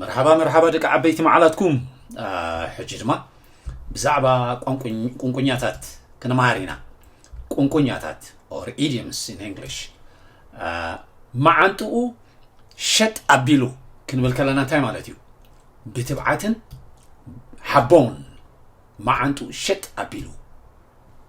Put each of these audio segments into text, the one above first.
መርሓባ መርሓባ ደቂ ዓበይቲ መዓላትኩም ሕጂ ድማ ብዛዕባ ቁንቁኛታት ክንመሃር ኢና ቁንቁኛታት ኦር ኢዲየምስ ኢን እንግሊሽ መዓንጥኡ ሸጥ ኣቢሉ ክንብል ከለና እንታይ ማለት እዩ ብትብዓትን ሓቦን መዓንጥኡ ሸጥ ኣቢሉ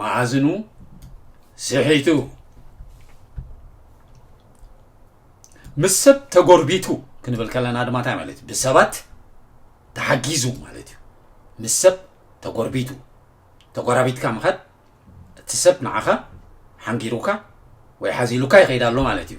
መኣዝኑ ስሒቱ ምስ ሰብ ተጎርቢቱ ክንብል ከለና ድማ እንታይ ማለት እዩ ብሰባት ተሓጊዙ ማለት እዩ ምስ ሰብ ተጎርቢቱ ተጎራቢትካ ምኸድ እቲ ሰብ ንዓኻ ሓንጊሩካ ወይ ሓዚሉካ ይኸይድ ኣሎ ማለት እዩ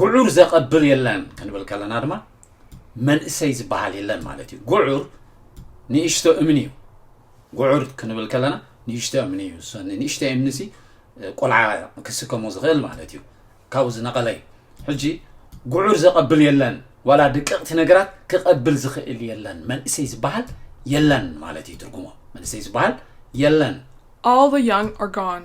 ጉዑር ዘቐብል የለን ክንብል ከለና ድማ መንእሰይ ዝበሃል የለን ማለት እዩ ጉዑር ንእሽቶ እምኒ እዩ ጉዑር ክንብል ከለና ንእሽቶ እምኒ እዩ ንእሽቶ እምኒ ሲ ቆልዓ ክስከሞ ዝኽእል ማለት እዩ ካብኡ ዝነቐለ እዩ ሕጂ ጉዑር ዘቐብል የለን ዋላ ድቅቕቲ ነገራት ክቐብል ዝኽእል የለን መንእሰይ ዝበሃል የለን ማለት እዩ ትርጉሞ መንእሰይ ዝበሃል የለን All the young are gone.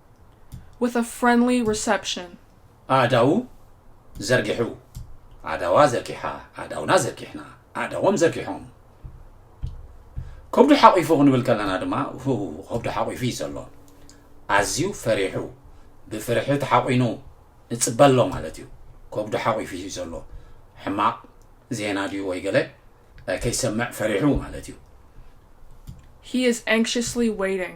with a friendly reception. ኣእዳዉ ዘርጊሑ፣ ኣእዳዋ ዘርጊሓ፣ ኣእዳውና ዘርጊሕና፣ ኣእዳዎም ዘርጊሖም። ከብዱ ሓቚፉ ክንብል ከለና ድማ ከብዱ ሓቚፉ እዩ ዘሎ ኣዝዩ ፈሪሑ ብፍርሒ ተሓቚኑ ንጽበ ኣሎ ማለት እዩ ከብዱ ሓቚፉ እዩ ዘሎ ሕማቕ ዜና ድዩ ወይ ገለ ከይሰምዕ ፈሪሑ ማለት እዩ He is anxiously waiting.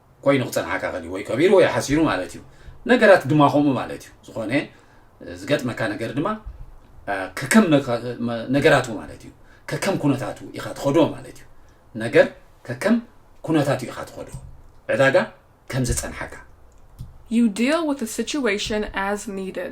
ኮይኑ ክጸንሓካ ከልዩ ወይ ቀቢሩ ወይ ሓሲሩ ማለት እዩ ነገራት ድማ ከምኡ ማለት እዩ ዝኾነ ዝገጥመካ ነገር ድማ ከከም ነገራቱ ማለት እዩ ከከም ኩነታቱ ኢኻ ትኸዶ ማለት እዩ ነገር ከከም ኩነታቱ ኢኻ ትኸዶ ዕዳጋ ከም ዝጸንሓካ You deal with the situation as needed.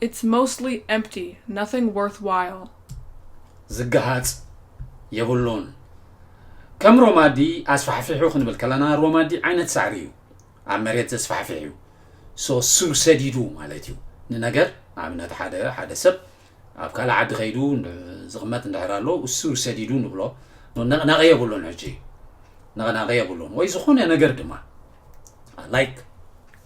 It's mostly empty, nothing worthwhile. ዝገሃጽ የብሉን። ከም ሮማዲ ኣስፋሕፊሑ ክንብል ከለና ሮማዲ ዓይነት ሳዕሪ እዩ ኣብ መሬት ዘስፋሕፍሕ እዩ so ስሩ ሰዲዱ ማለት እዩ ንነገር ንኣብነት ሓደ ሓደ ሰብ ኣብ ካልእ ዓዲ ከይዱ ዝቕመጥ እንድሕር ኣሎ ስሩ ሰዲዱ ንብሎ ነቕናቒ የብሉን ሕጂ ነቕናቒ የብሉን ወይ ዝኾነ ነገር ድማ ላይክ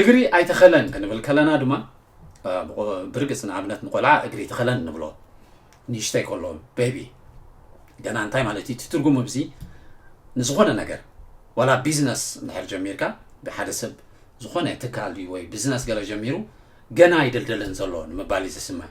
እግሪ ኣይተኸለን ክንብል ከለና ድማ ብርግፅ ንኣብነት ንቆልዓ እግሪ ተኸለን ንብሎ ንእሽተይ ከሎ ቤቢ ገና እንታይ ማለት እዩ እቲ ትርጉም እብዚ ንዝኾነ ነገር ዋላ ቢዝነስ እንድሕር ጀሚርካ ብሓደ ሰብ ዝኾነ ትካል ወይ ቢዝነስ ገለ ጀሚሩ ገና ይደልደለን ዘሎ ንምባል እዩ ዝስማዕ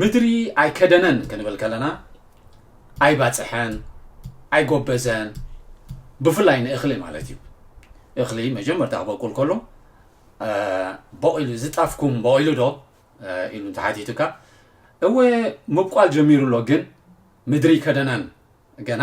ምድሪ ኣይከደነን ክንብል ከለና ኣይባፅሐን ኣይጎበዘን ብፍላይ ንእኽሊ ማለት እዩ እኽሊ መጀመርታ ክበቁል ከሎ በቂሉ ዝጣፍኩም በቂሉ ዶ ኢሉ እንተሓቲቱካ እወ ምብቋል ጀሚሩ ኣሎ ግን ምድሪ ከደነን ገና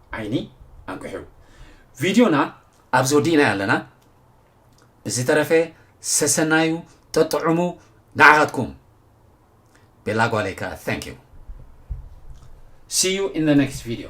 ዓይኒ ኣንቅሑ ቪድዮና ኣብዚ ወዲእናዮ ኣለና ብዝተረፈ ሰሰናዩ ጠጥዑሙ ንዓኻትኩም ቤላ ጓለይ ከዓ thank you see you in the next video